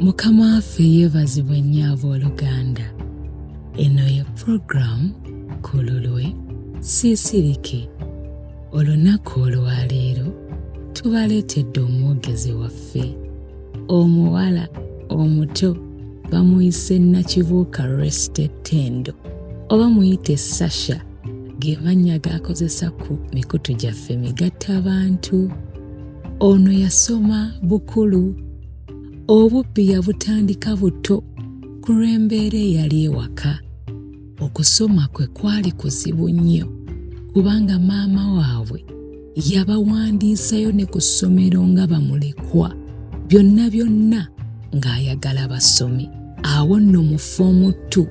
mukama waffe yeebazibwe nnyo abooluganda eno ye puroguramu ku lulwe siisirike olunaku olwaleero tubaleetedde omwogezi waffe omuwala omuto bamuyise nakibuuka restetendo oba muyite sasha ge mannya g'akozesa ku mikutu gyaffe migatta abantu ono yasoma bukulu obubbi yabutandika butto ku lw'embeera eyali ewaka okusoma kwe kwali kuzibu nnyo kubanga maama waabwe yabawandiisayo ne ku ssomero nga bamulekwa byonna byonna ng'ayagala basomi awo nno mu foomu tu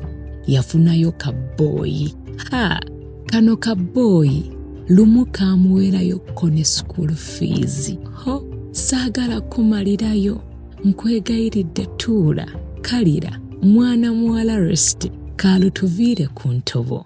yafunayo kabbooyi ha kano kabbooyi lumu kaamuweerayo ko ne school fiizi ho saagala kumalirayo nkwegayiridde tuula kalira mwana muwala resite kaalutuviire ku ntobo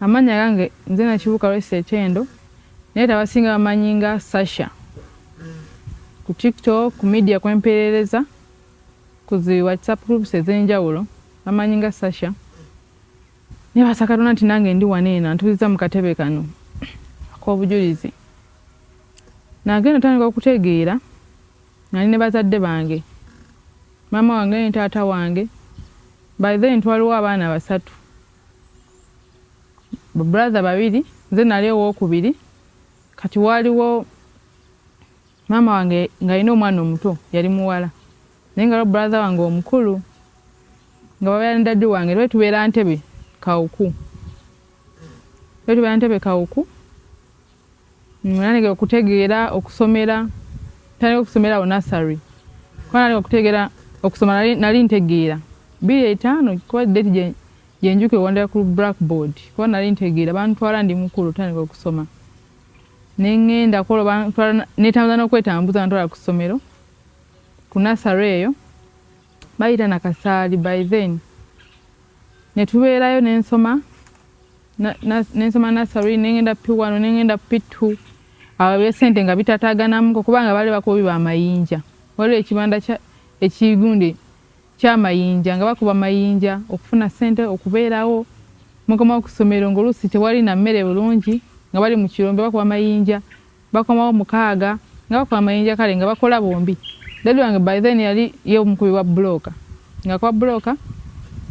Amannya gange nze Nakibuuka Rose Ekyendo naye abasinga bamanyi nga Sasha ku TikTok ku media kwempeerereza ku zi WhatsApp groups ez'enjawulo bamanyi nga Sasha naye basa Katonda nti nange ndi wano eno antuuzizza mu katebe kano ak'obujulizi nagenda otandika okutegeera nali ne bazadde bange maama wange ne taata wange by then twaliwo abaana basatu babrother babiri nze nali owokubiri kati waaliwo maama wange ng'alina omwana omuto yali muwala naye nga babrother wange omukulu nga babeera ne dadi wange lwe tubeera ntebe kawuku lwe tubeera ntebe kawuku Nanege okutegeera okusomera tandika okusomera awo nasary kuba nanege okutegeera okusoma nali ntegeera biri etaano kuba date gyenjuka ewandira ku blackboard kuba nali ntegeera bantwala ndi mukulu otandika okusoma nengenda kuolwo bantwala netambuza nokwetambuza bantwala ku ssomero ku nasary eyo bayita nakasaali by then netubeerayo nensoma nensoma nasary nengenda p1 nengenda p2 abo besente nga bitataganamuko kubanga bali bakubi bamayinja waliwo ekibanda ekigundi kyamayinja nga bakuba mayinja okufuna sente okubeerawo mukoma okusomero ngaoluusi tewali na mmere bulungi nga bali mu kirombe bakuba mayinja bakomawo mukaaga nga bakuba amayinja kale nga bakola bombi dadi wange by then yali ye omukubi wa buloka nga kuba buloka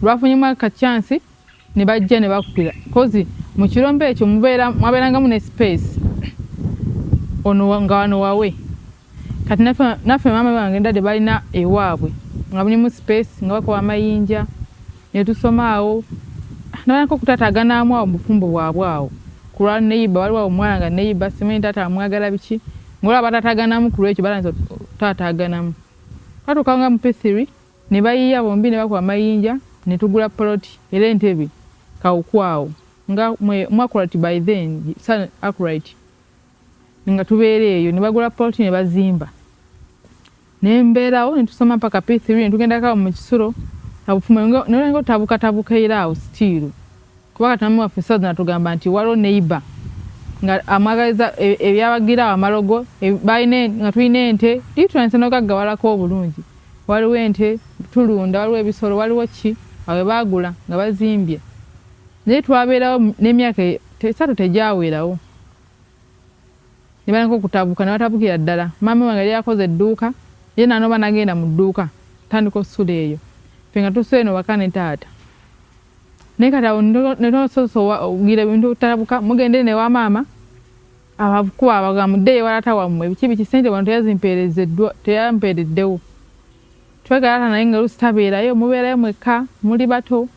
lwafunyemu akachansi ne bajja ne bakupira kozi mu kirombe ekyo mwabeerangamu ne space ono nga wano wawe kati naffe maama wange dadi balina ewaabwe nga mulimu space nga bakuba amayinja ne tusoma awo nabanako kutataganaamu awo mubufumbo bwabwe awo kulwa neyiba waliwo awo omwana nga neyiba simanyi taata amwagala biki ngaolwa batataganamu kulwekyo balanza taataganamu twatuuka nga mupesiri ne bayiiya bombi ne bakuba mayinja ne tugula poloti era entebe kawuku awo nga mwe mu akurati by then sa akurati nga tubeera eyo ne bagula poloti ne bazimba ne mbeerawo ne tusoma paka p3 ne tugendako awo mu kisulo nolenga otabukatabuka era awo sitiiru kuba katami waffe saza natugamba nti waliwo neiba nga amwagaliza e, ebyabagira awo amalogo e, nga tulina ente litulanise nogaggawalako obulungi waliwo ente tulunda waliwo ebisolo waliwo ki awe baagula nga bazimbye naye twabeerawo n'emyaka e, esatu tegyawerawo ne baleka okutabuka ne batabukira ddala. Maama wange yali akoze edduuka, ye n'anoba n'agenda mu dduuka atandika okusula eyo, ffe nga tusula eno waka ne taata. Naye kati awo ne tososowagira ebintu obutabuka, mugenda eno ewa maama abakuba abagamba muddeyo ewa taata wammwe biki biki, ssente wano teyazimpeerezeddwa teyampeereddewo. Twegalaata naye nga oluusi tabeerayo, mubeerayo mwekka muli bato.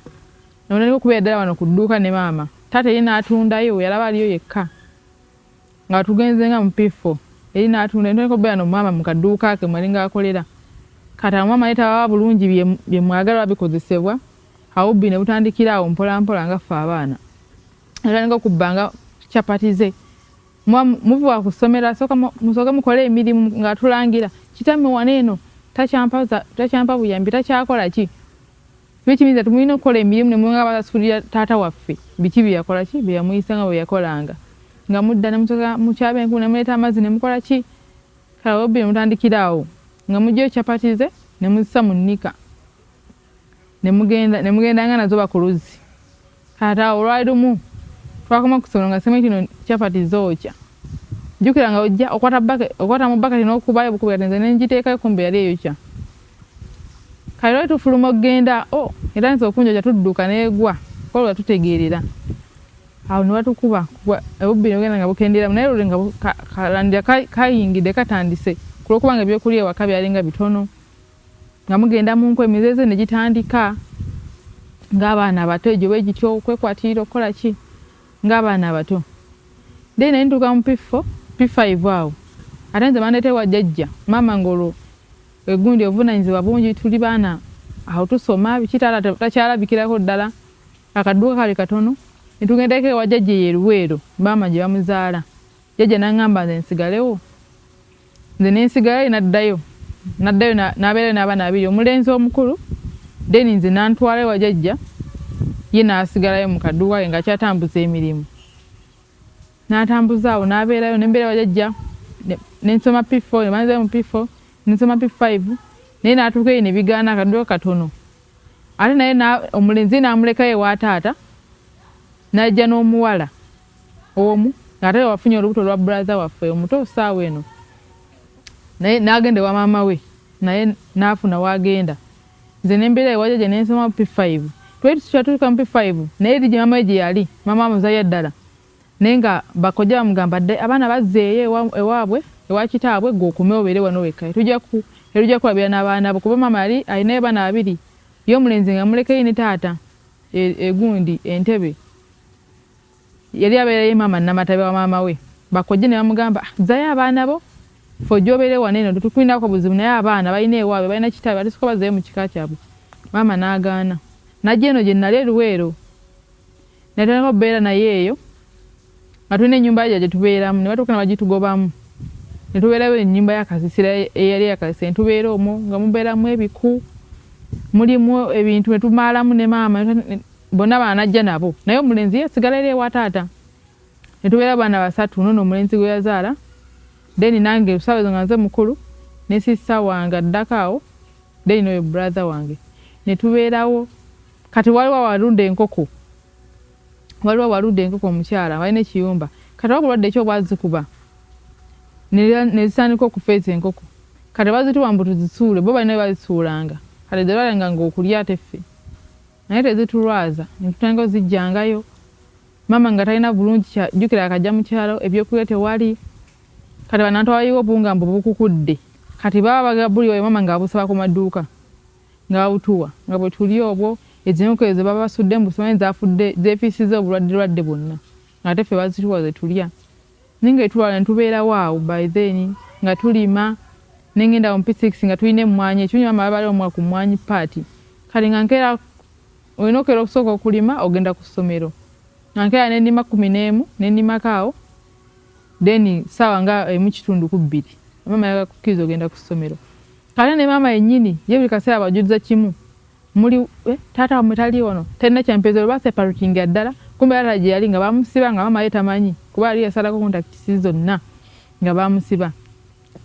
Nabonera okubeera ddala wano ku dduuka ne maama. Taata eri n'atundayo, we yalaba aliyo yekka. Nga tugenze nga mu P4, eri n'atundayo. Ntandika okubeera no maama mu kadduuka ke mwe yalinga akolera. Kati awo maama yali tabawa bulungi bye mwagala oba bikozesebwa, awubbi ne butandikira awo mpolampola nga ffe abaana. Natandika okubba nga capati ze. Muba muvuba ku ssomero, asooka musooke mukole emirimu ng'atulangira. Kitamme wano eno takyampa buyambi, takyakola ki? Kino kiyinza nti mulina okukola emirimu ne mubanga abasasulira taata waffe biki bye yakola ki bye yamuyisa nga bwe yakolanga nga mudda ne musoka mu kyaba enkumu ne muleeta amazzi ne mukola ki kala webbi ne mutandikira awo nga mugyeyo chapati ze ne muzisa mu nnika ne mugenda ne mugenda nga nazo bakuluzzi Ate awo olwali lumu twakoma ku songa sema kino chapati zookya jjukira nga ojja okwata mu baketi n'okubayo bukubi kati nze ne ngiteekayo kumbe yali eyokya kati lwali tufuluma okugenda o oh, era nze okunjokya tudduka n'egwa kolwa tutegeerera awo ne batukuba obubbi ne bugenda nga bukendeeramu naye luli nga kalandira kayingidde katandise ku lw'okuba nga ebyokulya ewaka byalinga bitono nga mugenda mu nku emizeeze ne gitandika ng'abaana abato egyo bwe gityo okwekwatiira okukola ki ng'abaana abato then ne ntuuka mu piffo pifaivu awo ate nze bandeeta ewa jjajja maama ng'olwo egundi obuvunaanyizibwa bungi tuli baana awo tusoma biki taata takyalabikirako ddala akadduka kali katono ne tugendako ewa jjajja eyo eruweero maama gye bamuzaala Jjajja n'angamba nze nsigalewo. Nze ne nsigalayo ye n'addayo. N'addayo n'abeerayo n'abaana babiri, omulenzi omukulu then nze n'antwala ewa jajja ye n'asigalayo mu kaduuka ke ng'akyatambuza emirimu. N'atambuza awo n'abeerayo ne mbeera ewa jajja ne nsoma P4 ne banzirayo mu P4 ne nsoma P5 naye n'atuuka eyo ne bigaana akaduuka katono. Ate naye omulenzi ye n'amulekayo ewa taata n'ajja n'omuwala. omu ate wafunye olubuto lwa brother waffe omuto saawa eno naye nagenda wa maama we naye nafuna wagenda nze nembeera ewaja gye nensoma p5 twali tukyatuuka mu p5 naye eri gye maama we gye yali maama amuzalira ddala naye nga bakojja bamugamba dde abaana bazzeeyo ewaabwe ewa kitaabwe gwe okume obeere wano wekka tujja kukulabira n'abaana bo kuba maama yali alinayo baana babiri ye omulenzi nga mulekeyo ne taata e, egundi entebe Yali abeera ye maama Namatabi wa maama we. Bakojja ne bamugamba, ah, zzayo abaana bo ffe ojobeere wano eno tetukulinako buzibu naye abaana balina ewaabwe balina kitaabwe atesoka bazzayo mu kika kyabwe. Maama n'agaana. Najja eno gye nali e Luweero ne ntandika okubeera naye eyo nga tulina ennyumba yajja gye tubeeramu ne batuuka ne bagitugobamu ne tubeerayo ennyumba ya kasisira eyali eya kasisira ne tubeera omwo nga mubeeramu ebiku mulimu ebintu ne tumaalamu ne maama bonna bana najja nabo naye omulenzi ye sigala era ewa taata ne tubeera baana basatu nono omulenzi gwe yazaala deni nange sawa nga nze mukulu ne sisita wange addako awo deni noyo brother wange ne tubeerawo kati waliwo awalunda enkoko waliwo awalunda enkoko omukyala walina ekiyumba kati wabulwadde ekyo bwazikuba nezitandika okufa ezo enkoko kati bazituwa mbu tuzisuule bo balina bazisuulanga kati zeralanga ngaokulya teffe Naye tezitulwaza netutangayo zijjangayo mama nga talina bulungi kya jukira akajja mukyalo ebyokulya tewali kati banantu abayiwa obuwunga mbu bukukudde kati baba bagabuli oyo mama nga abusaba ku maduuka nga babutuwa nga bwe tuli obwo ezinuku ezo baba basudde mbu simanyi zafudde zefiisiza obulwadde lwadde bwonna ngate ffe bazituwa ze tulya Ninga etulwala netubeerawo awo by then nga tulima nengenda awo mu P6 nga tulina emmwanyi ekirungi maama baba baliwo ku mmwanyi part kati nga nkeera olina okeera okusooka okulima ogenda ku ssomero nga nkeera nenima kumi n'emu nenimako awo then saawa nga emu kitundu ku bbiri maama yaga kukkiriza ogenda ku ssomero kale ne maama yennyini ye buli kaseera abajuliza kimu muli eh, taata wamwe taliwo no tenne kyempeza olwa separating addala kumbe taata gye yali nga bamusiba nga mama ye tamanyi kuba yali yasalako kontakitisi zonna nga bamusiba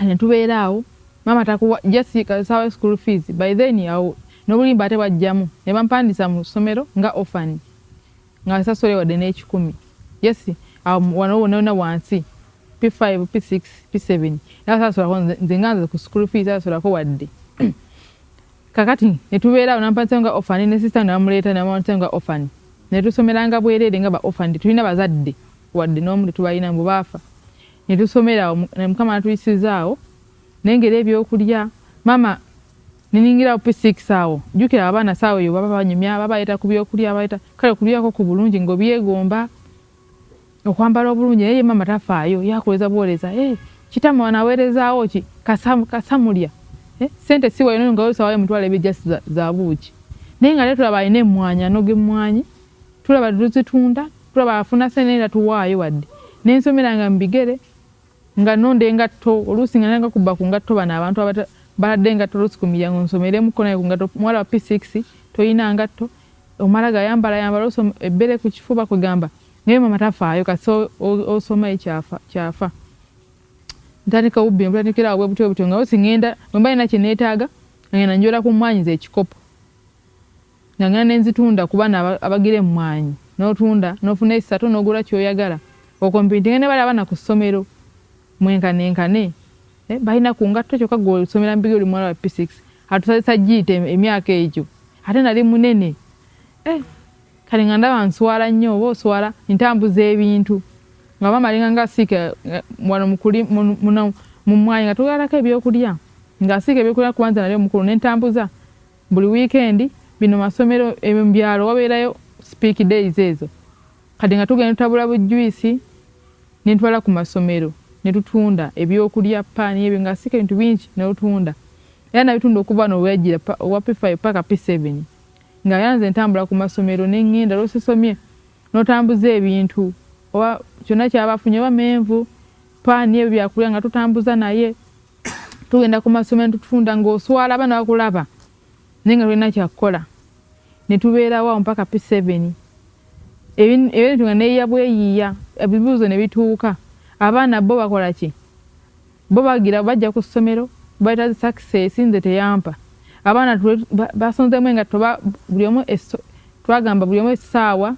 ne tubeera awo mama takuwa just kasawa school fees by then awo n'obulimba ate bwajjamu ne bampandisa mu ssomero nga ofan nga asasole wadde n'ekikumi yes awo wano wona wona wansi p5 p6 p7 nasasolako nze nga nze ku school fees asolako wadde Kakati ne tubeera awo nampatisa nga ofani ne sisita namuleeta namuwantisa nga ofani ne tusomeranga bwereere nga ba ofani tetulina bazadde wadde n'omu tetubalina mbu baafa ne tusomera awo mukama natuyisiza awo nengera ebyokulya mama niningirawo p6 awo jukira abaana saawa eyo baba banyumya babayeta ku byokulya babayeta kale okulyako ku bulungi ng'obyegomba Okwambala obulungi naye ye mama tafaayo yakuleza buwereza eh, kitama wano aweerezaawo ki kasamu, kasamulya eh, sente siwayo naye nga osawayo mutwala ebijja za, za buuki naye nga naye tulaba alina emmwanyi anoga emmwanyi tulaba tuzitunda tulaba afuna sente naye tatuwaayo wadde nensomera nga mubigere nga nonda engatto oluusi nga nanga kubba ku ngatto bano abantu baladde engatto oluusi ku miryango nsomeremuko naye ku ngatto muwala wa p6 toyina ngatto omala gayambala yambala ebbere ku kifuba kwegamba Naye mama tafaayo kasi osoma ekyafa kyafa ntandika ubbi mpandikira awo bwebutyo butyo nga osi ngenda bwe mba nina kye neetaaga ngenda njola ku mmwaanyi z'ekikopo nga ngenda ne nzitunda ku baana abagira emmwaanyi n'otunda n'ofuna essatu n'ogula ky'oyagala okompitinga ne bali abaana ku ssomero mwenkanenkane eh, balina ku ngatto kyokka gwe osomera mu bigere oli muwala wa p6 atusazisa giita emyaka egyo ate nali munene eh, kale nga ndaba nswala nnyo oba oswala ntambuza ebintu nga maama alinga nga asiika eh, wano mukuli mu mwayi nga tugalako ebyokulya nga asiika ebyokulya kuba nze nali omukulu nentambuza buli wiikendi bino masomero ebyalo wabeerayo speak days ezo kati nga tugenda tutabula bujjuisi nentwala ku masomero netutunda ebyokulya paani ebyo nga asiika ebintu bingi netutunda era nabitunda okuva noweyajira owa p5 paka p7 Nga ya nze ntambula ku masomero ne ŋŋenda lw'osisomye n'otambuza ebintu oba kyonna ky'aba afunye oba menvu paani ebyo byakulya nga tutambuza naye tugenda ku masomero tutunda ng'oswala abaana bakulaba naye nga tulina kyakukola ne tubeerawo awo mpaka pi seveni ebintu nga neeyiya bweyiiya ebibuuzo ne bituuka abaana bo bakola ki Bo bagira bajja ku ssomero baita zi success nze teyampa abaana twe basonzemu engatto ba buli omu twagamba buli omu essaawa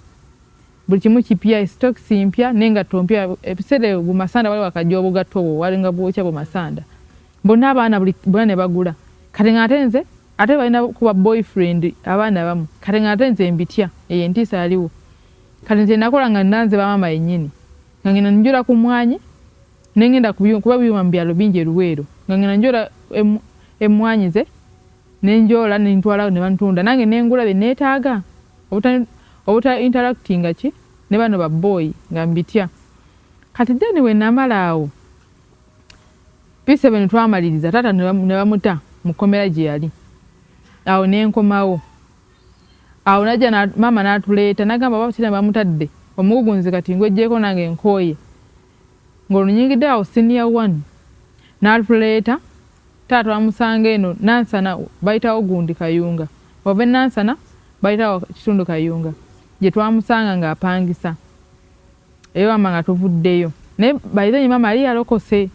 buli kimu kipya esitokisi mpya n'engatto mpya ebiseera ebyo bumasanda wali wakajja obugatto obwo walinga bwokya bumasanda bonna abaana buli bonna ne bagula kati nga ate nze ate balina kuba boyfriend abaana abamu kati nga ate nze mbitya eyo entiisa yaliwo kati nze nakola nga nanze bamaama yennyini nga ngenda njula ku mwanyi Ne ngenda ku byuma kuba ebyuma mu byalo bingi e Luweero nga ngenda njoola emmwaanyi ze ne njoola ne ntwala ne bantunda nange ne ngula bye neetaaga obuta obuta interactinga ki ne bano babbooyi nga mbitya. Kati then bwe namala awo P7 twamaliriza taata ne bamuta mu kkomera gye yali awo ne nkomawo awo najja na maama n'atuleeta n'agamba oba Tira bamutadde omugugunzi kati ngweggyeko nange nkooye. Ng'olunyingidde awo siniya wanu n'aluleeta, taata wamusanga eno Nansana bayitawo gundi Kayunga. Wava e Nansana bayitawo kitundu Kayunga gye twamusanga ng'apangisa eyo wamma nga tuvuddeyo. Naye by then maama yali yalokose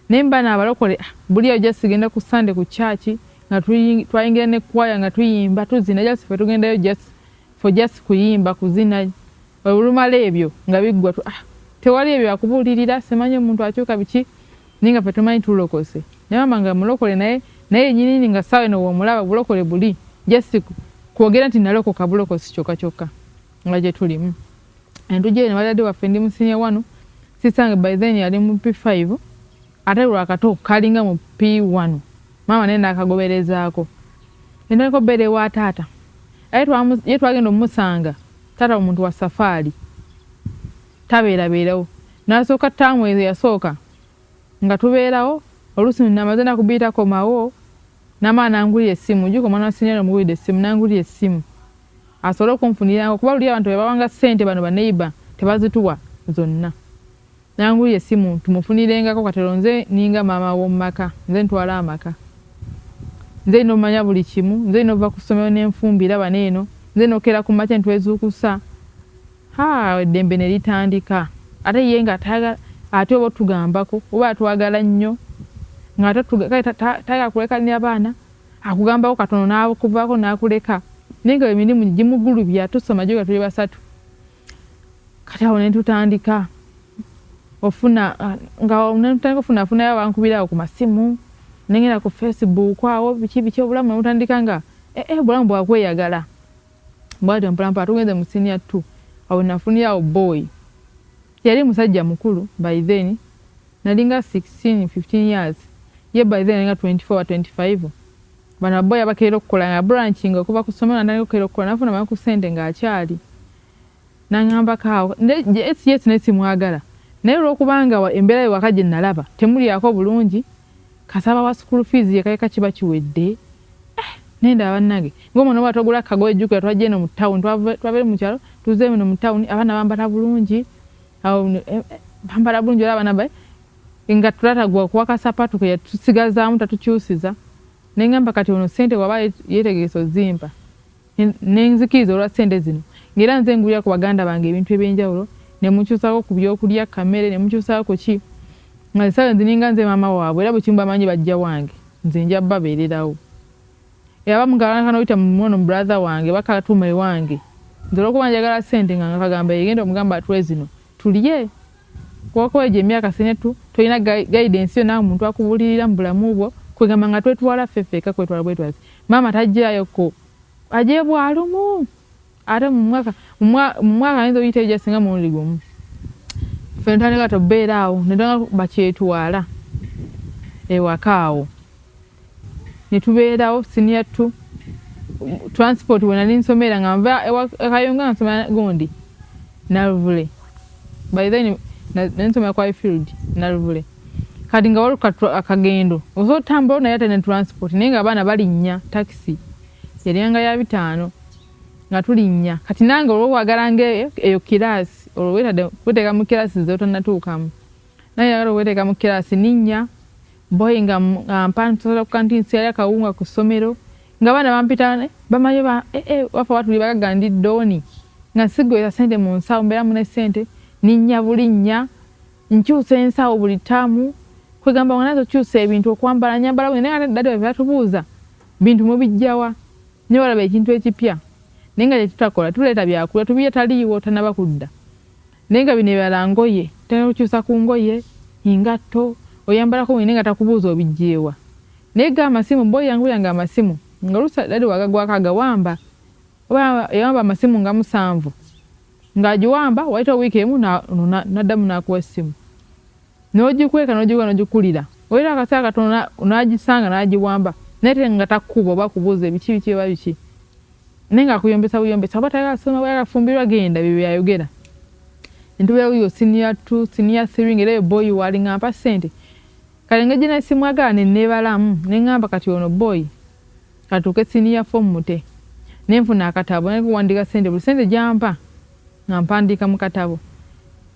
naye mba n'abalokole ah, buli eyo just genda ku Sunday ku kyaki nga twayingira ne kwaya nga tuyimba tuzina just ffe tugendayo just for just kuyimba kuzina. Olumala ebyo nga biggwa tu ah tewali ebyo akubulirira simanyi omuntu akyuka biki naye nga fe tumanyi tulokose ne mama nga mulokole naye naye nyinini nga sawe no womulaba bulokole buli just kwogera nti nalokoka bulokosi kyoka kyoka nga gye tulimu entuje ne wadade waffe ndi musinya wano sisange by then yali mu P5 ate lwakato kalinga mu P1 mama naye nakagoberezaako endeko bere wa taata aye twagenda omusanga Taata omuntu wa safaali tabeerabeerawo. Nasooka ttaamu ezo yasooka nga tubeerawo, oluusi namaze ennaku bbiri takomawo namala n'angulira essimu. Ojjuke omwana wa siniya namugulidde essimu n'angulira essimu asobole okunfuniranga kuba luli abantu be bawanga ssente bano baneiba tebazituwa zonna. Nanguya essimu tumufunirengako katelo nze ninga maama womumaka nze ntwala amaka nze nina omanya buli kimu nze nina ova ku ssomero nenfumbira bano eno nze nokera ku makya netwezukusa haa eddembe nelitandika ate ye nga tayagala ate oba otugambako oba atwagala nnyo ngate tayagala kulekanira baana akugambako katono nakuvako nakuleka naye nga emirimu gimugulubya tusoma gyoga tuli basatu kati awo netutandika ofuna nga netutandika ofuna afunayo abankubirawo ku masimu nengenda ku facebook awo biki biki obulamu nebutandika nga ee eh, eh, obulamu bwakweyagala bwatyo mpolampola tugenze mu siniya two awo nafunirawo boy yali musajja mukulu by then nalinga 16 15 years ye by then nalinga 24 25 Bano abbo yabakeera okukola nga branching okuva ku ssomero natandika okukeera okukola nafuna mangu ku sente nga akyali nangamba kaawo yes yes naye simwagala naye olwokubanga embeera ye waka gyenalaba temulyako bulungi kasaba wa school fees yekayeka kiba kiwedde eh, naye ndaba bannange ngaomwana oba togula kagoye jjukira twajja eno mu town twava eno mu kyalo tuze eno mu town abaana bambala bulungi awo eh, eh, bambala bulungi olaba nabaye nga tulatagwa kuwa kasapatu ke yatusigazaamu tatukyusiza naye ngamba kati ono sente waba yetegese ozimpa nenzikiriza olwa sente zino ngaera nze ngulira ku baganda bange ebintu ebyenjawulo nemukyusako ku byokulya kamere nemukyusako kuki nga esawe nzininga nze maama waabwe era bwekimu bamanyi bajja wange nze nja babeererawo Era abamu kalanga kanoyita mu mwono mu brother wange bakatuma ewange nze olwokuba njagala sente nga ngakagamba yegenda omugamba atwe zino tulye kubakuba egyo emyaka sinetu tolina guidance yo nawe muntu akubulirira mu bulamu bwo kwegamba nga twetwala ffe ffeka kwetwala bwetwazi maama tajjayo ko ajeyo bwalumu ate mu mwaka mu mwaka ayinza oyita eja singa mulundi gumu ffe ntandika tobeera awo netanga bakyetwala ewaka awo netubeerawo siniya tu transport wenali nsomera nga nva ekayonga nsomera gundi naluvule by then nensomera kwa field naluvule kati nga waliwo akagendo osobola otambulawo naye ate ne transport naye nga abaana balinnya takisi yaliyanga ya bitaano nga tulinnya kati nange olwo wagala nga eyo kiraasi olwo wetadde kuteeka mu kiraasi zeotannatuukamu naye yagala oweteeka mu kiraasi ninnya boyi nga ampa nsobola ku kanti nsiyali akawunga ku ssomero nga baana bampita eh, bamanyi ba eh, eh, wafa watuli bagaga ndi dooni nga sigweza sente mu nsawo mbeera mune sente ninnya bulinnya nkyusa ensawo buli taamu kwegamba nga nazo kyusa ebintu okwambala nyambala bwe naye dadi webatubuuza Bintu mubijjawa nyo balaba ekintu ekipya naye nga kyetutakola tuleeta byakulya tubirya taliiwo tanaba kudda naye nga bino ebirala ngoye tena kukyusa ku ngoye engatto oyambalako wene nga takubuuza obijjeewa naye ga amasimu boy yangu yange amasimu nga lusa dadi wagagwako agawamba oba yawamba amasimu nga musanvu nga agiwamba wayita wiiki emu naddamu nakuwa essimu N'ogikweka n'ogiwuga n'ogikulira wayita akaseera katono n'agisanga n'agiwamba naye te nga takukuba oba kubuuza ebiki biki oba biki naye nga akuyombesa buyombesa oba tayagala soma oba yagala kufumbirwa genda bye byayogera nti weewo yo siniya two siniya three nga era yo boyi waali nga mpa ssente kale nga gina simwagala ne neebalamu ne ngamba kati ono boyi katuuke siniya fo mute ne nfuna akatabo naye kuwandiika ssente buli ssente gyampa nga mpandiika mu katabo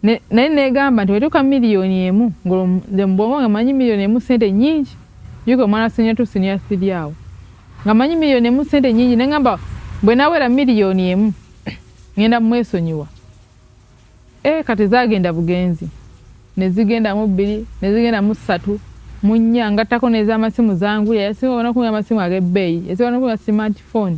ne, naye neegamba nti wetuuka miliyoni emu ng'olwo nga manyi miliyoni emu sente nyingi juka omwana senior tu senior three awo nga manyi miliyoni emu sente nyingi nengamba bwe nawera miliyoni emu ngenda mwesonyiwa e, kati zagenda bugenzi nezigenda mu bbiri nezigenda mu ssatu mu nnya ngattako n'ez'amasimu zanguya yasinga onakunya amasimu ag'ebbeeyi yasinga onakunya smartphone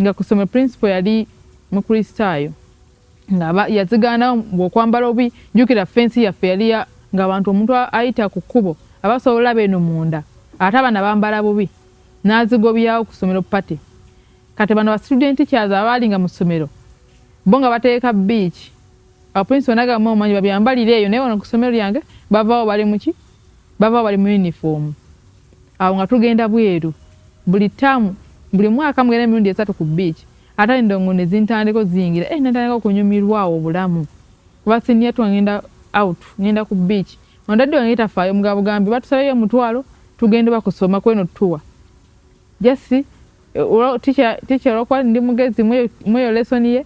nga ku ssomero principal yali mukristaayo nga yazigaanawo mbu okwambala obi jjukira fensi yaffe yali ng'abantu omuntu ayita ku kkubo aba asobola olaba eno munda ate abaana bambala bubi n'azigobyawo ku ssomero pate kati bano bastudenti kyaza abaali nga mu ssomero bo nga bateeka biiki abaprinsipal nagamba omanyi babyambalire eyo naye wano ku ssomero lyange bavaawo bali muki baba bali mu yunifoomu awo nga tugenda bweru buli ttaamu buli mwaka mugenda emirundi esatu ku bbiici ate endongo ne zintandiko ziyingira e eh, natandika okunyumirwa awo obulamu kuba siniya tu ngenda out ngenda ku bbiici ondadde wange tafaayo mugabo gambi batusabeyo omutwalo tugenda oba kusoma kweno tuwa jasi eh, ticha olwokuba ndi mugezi mweyo lesoni ye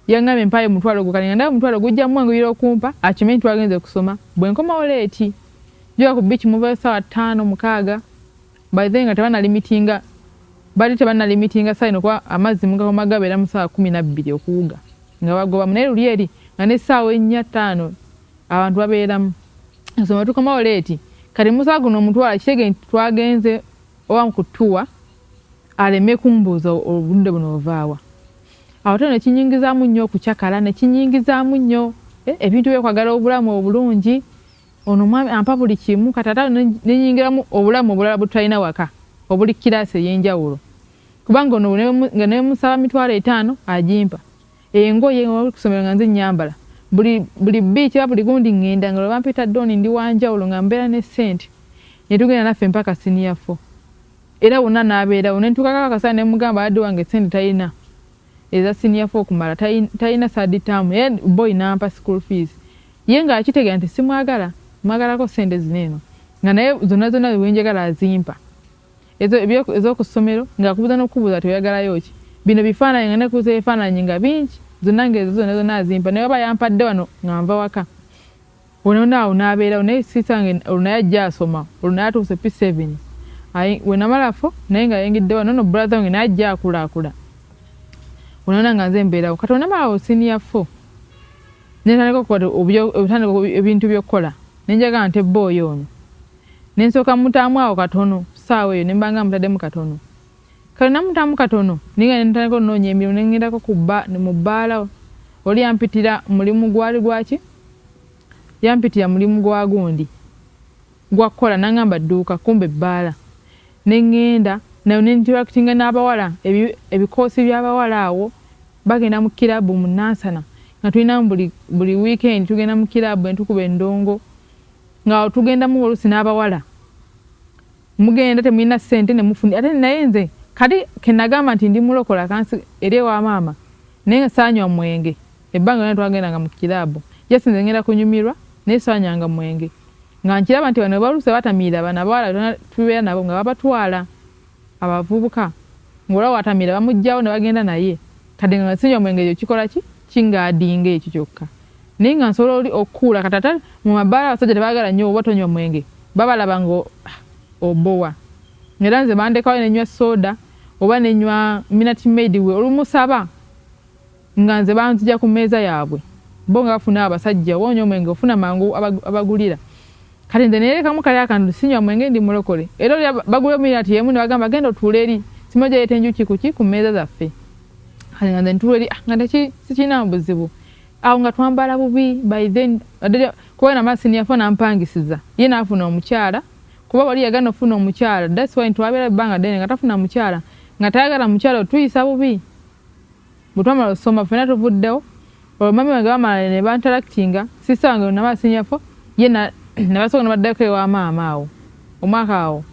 Yangambye mpaayo omutwalo gwo kale nga ndaba omutwalo gujja mumwanguyira okumpa akimanyi nti twagenze kusoma bwe nkomawo leeti njoga ku bbiici muvayo ssaawa ttaano mukaaga by then nga tebanalimitinga bali tebanalimitinga saino kuba amazzi mugakoma gabeera mu ssaawa kumi nabbiri okuwuga nga bagobamu naye luli eri nga ne ssaawa ennya ttaano abantu babeeramu nsoma tukomawo leeti kati musaa guno omutwala kitege nti twagenze oba kutuwa aleme kumbuuza obudde buno ovaawa awo te nekinyingizaamu nnyo okucakala nekinyingizaamu nnyo eh, ebintu byekwagala obulamu obulungi ono omwami ampa buli kimu katata nenyingiramu obulamu obulala bwetutalina waka obuli kiraasi eyenjawulo kubanga ono nga nemusaba mitwalo etaano agimpa engoye kusomero nga nze nyambala buli biiki oba buli gundi ngenda nga lwebampita doni ndi wanjawulo nga mbeera ne sente netugenda naffe mpaka siniya fo era wonna n'abeerawo ne ntuukako akaseera ne mugamba yadde wange sente talina eza siniya fo okumala talina saadi taamu ye boyi n'ampa school fees ye nga akitegera nti simwagala mwagalako sente zino eno nga naye zonna zonna wenjagala azimpa ez'oku ssomero ng'akubuza n'okukubuza ti oyagalayo ki bino bifaananyi nga nekuuza ebifaananyi nga bingi zonna ng'ezo zonna zonna azimpa naye oba yampadde wano nga nva waka Wano naawo nabeerawo naye sister nge olwo naye ajja asoma olwo naye atuuse P7 aye wenamala fo naye nga yayingidde wano no brother wange naye ajja akulaakula wano nga nze mbeerawo kati wenamalawo senior fo netandika okuba obutandika ebintu by'okukola nenjaga nte booyo ono nensooka mutaamu awo katono saawa eyo nembanga mutaddemu katono Kale namutamu katono ninga nentandika ononya emirimu nengendako ku ba mu bbaala oli yampitira mulimu gwali gwaki yampitira mulimu gwa gundi gwa kukola nangamba dduuka kumbe bbaala nengenda nayo nentirakitinga n'abawala ebikoosi ebi by'abawala awo bagenda mu kirabu mu nansana nga tulinamu buli buli wiikendi tugenda mu kirabu entukuba endongo ng'awo tugendamu oluusi n'abawala Mugenda temulina sente ne mufuni ate naye nze kati kenagamba nti ndi mulokola kansi eri ewa maama naye nga saanywa mwenge ebbanga lyona twagendanga mu kiraabu jasi nze ngenda kunyumirwa naye saanyanga mwenge nga nkiraba nti bano baluuse batamiira bano abawala tubeera nabo nga babatwala abavubuka ng'olaba watamiira bamugjawo ne bagenda naye kati nga sinywa mwenge ekyo kikola ki kingaadinga ekyo kyokka Naye nga nsobola oli okukuula kati ate mu mabaala abasajja tebagala nnyo oba tonywa mwenge babalaba nga ah, obowa era nze bandekawo nenywa soda oba nenywa minati maid we olumusaba nga nze banzija ku meeza yaabwe bo nga bafuna abasajja oba onywa omwenge ofuna mangu abagulira kati nze nerekamu kali akantu sinywa mwenge ndi mulokole era oli bagulira minati yemu nebagamba genda otuula eri simu gyayeeta enjuki kuki ku meeza zaffe kati nga nze ntuula eri ah, nga tekirina buzibu awo nga twambala bubi by then kuba na masini yafo nampangisiza ye nafuna omukyala kuba wali yagana ofuna omukyala that's why twabera banga dene nga tafuna mukyala nga tayagala mukyala otuyisa bubi butwamala osoma fena tuvuddewo olwo mami wange bamala ne bantalactinga sisa wange na masini yafo ye na nabasoka nabaddako ewa maama awo omwaka awo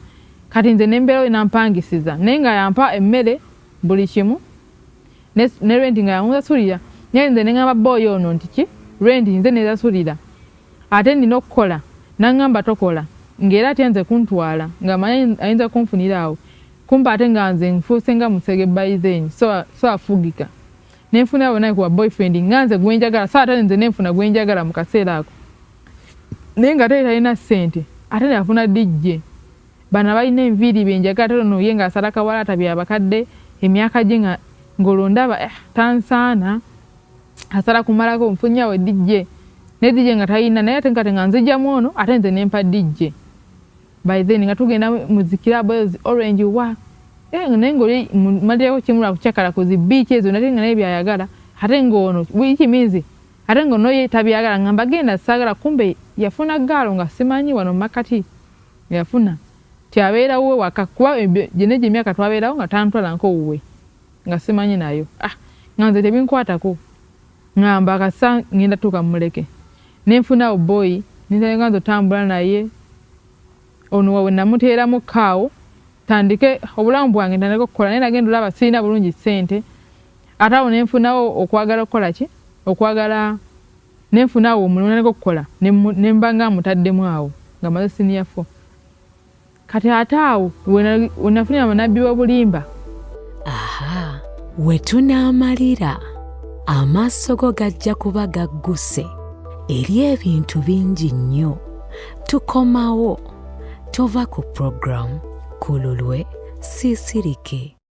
kati nze nembeerawo nampangisiza naye nga yampa emmere buli kimu ne, ne rent nga yamusasulira naye nze nengamba boy ono nti ki rent nze nesasulira ate nina okukola nangamba tokola ngaera atya nze kuntwala nga manyi ayinza kunfunira awo kumpa ate nga nze nfuuse nga musege by then so, so afugika nenfuna bona kuba boyfriend nga nze gwenjagala so ate nze nenfuna gwenjagala mu kaseera ako naye nga ate talina ssente ate nafuna dijje Bano abalina enviiri benjagala ate ono ye nga asala kawalaata bya bakadde emyaka gye nga ngolo ndaba eh tansaana asala kumalako nfunye awo DJ ne DJ nga tayina naye ate nkate nga nzija mwono ate nze nempa DJ by then nga tugenda muzikira boys orange wa eh naye ngoli malira ko kimula kuchakala kuzi beach ezo nate nga naye byayagala ate ngono wiki minzi ate ngono ye tabyagala ngamba genda sagala kumbe yafuna galo nga simanyi wano makati Yafuna ti abeera wuwe waka kuba gyona egyo emyaka twabeerawo nga tantwala nko wuwe nga simanyi nayo ah nga nze tebinkwatako ngamba kasa ngenda tuuka muleke nenfunawo boyi nintandika nze otambula naye ono wawe namuteeramu kaawo tandike obulamu bwange ntandika okukola naye nagenda olaba sirina bulungi sente ate awo nenfunawo okwagala okukola ki okwagala Ne nfuna awo omulimo naleka okukola ne mba nga amutaddemu awo nga maze siniya fo. Kati ate awo we nafunira amanabbi w'obulimba. Aha, we tunaamalira, amaaso go gajja kuba gagguse eri ebintu bingi nnyo. Tukomawo, tova ku programu, ku lulwe, siisirike.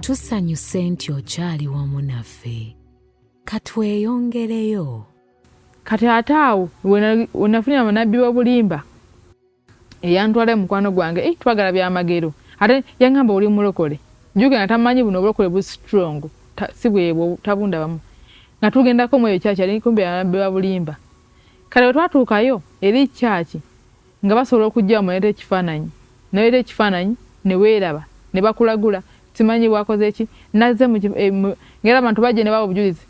Tusanyuse nti okyali wamu naffe. Katweyongereyo. Kati ate awo wenafunira munabbi wobulimba eyantwala e mukwano gwange eh, twagala byamagero ate yangamba oli mulokole juke nga tamanyi buno obulokole bu strong ta, si bwebwo tabunda bamu nga tugendako mweyo kyaki ali kumbe yanabbi wabulimba kale wetwatuukayo eri kyaki Nga basobola okujjawo muleete ekifaananyi, noleeta ekifaananyi ne weeraba ne bakulagula timanyi bwakoze ki nazze mu eh, ngera abantu bajje ne bawa obujulizi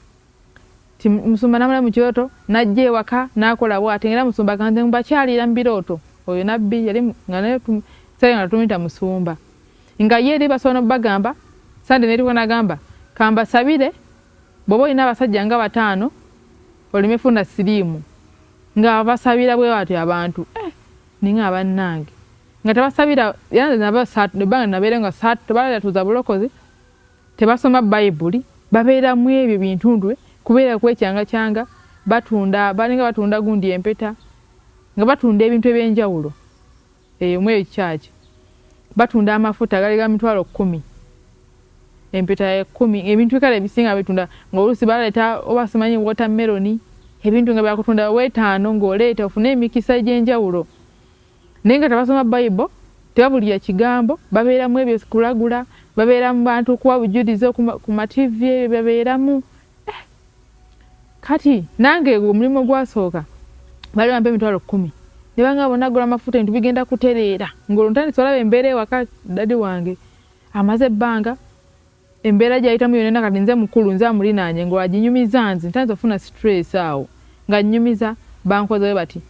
ti musumba namulayo mu kirooto najja ewaka nakola bwati ngera musumba ganze mbakyalira mu birooto oyo nabbi yali nga naye sale nga tumuyita musumba nga ye eri basobola nobagamba sande neriko nagamba kambasabire bwoba olina abasajja nga bataano oleme funa siriimu nga abasabira bwe batyo abantu eh, ninga abannange nga tebasabira ebbanga nabeere nga tebalatuuza bulokozi tebasoma bayibuli babeera mu ebyo bintundu eh, kubeera kwekyangakyanga batunda balinga batunda gundi empeta nga batunda ebintu ebyenjawulo Eyo mu eyo kyaki batunda amafuta gali ga mitwalo kumi empeta ya kumi ebintu kale ebisinga bitunda ng'oluusi baleeta oba simanyi wotameroni ebintu nga byakutunda wetaano ng'oleeta ofune emikisa egy'enjawulo naye nga tebasoma bayibo tebabulira kigambo babeeramu ebyo kulagula babeera mu bantu okuwa bujulizi ku mativi ebyo babeeramu eh, kati nange omulimu gwasooka bali bampa emitwalo kumi nebanga bona gula amafuta ebintu bigenda kutereera ngolwo ntandise olaba embeera ewaka dadi wange amaze ebbanga embeera gyayitamu yonena kati nze mukulu nze amulinaanye ngolwo aginyumiza nze ntandise okufuna stress awo nga nyumiza bankozewe bati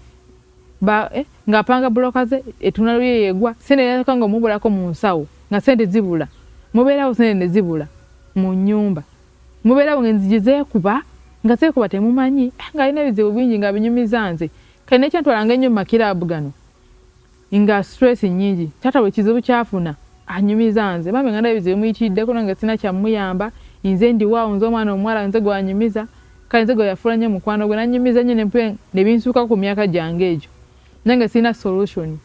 ba eh, nga panga bloka ze etuna luye yegwa sene ya kanga mubula ko munsawo nga sente zibula mubera ho sene zibula mu nyumba Mubeera awo ng'enzigi zeekuba, nga zeekuba temumanyi, ng'alina ebizibu bingi nga abinyumiza nze. Kati n'ekyantwalanga ennyo mu makiraabu gano nga stress nnyingi, taata buli kizibu ky'afuna anyumiza nze. Bambi nga ndaba ebizibu bimuyitiriddeko nange sirina kya mmuyamba. Nze ndiwo awo, nze omwana omuwala nze gw'anyumiza. Kale nze gwe yafuula nnyo mukwano gwe, n'annyumiza nnyo ne binsuukako ku myaka gyange egyo. Nange sirina solution.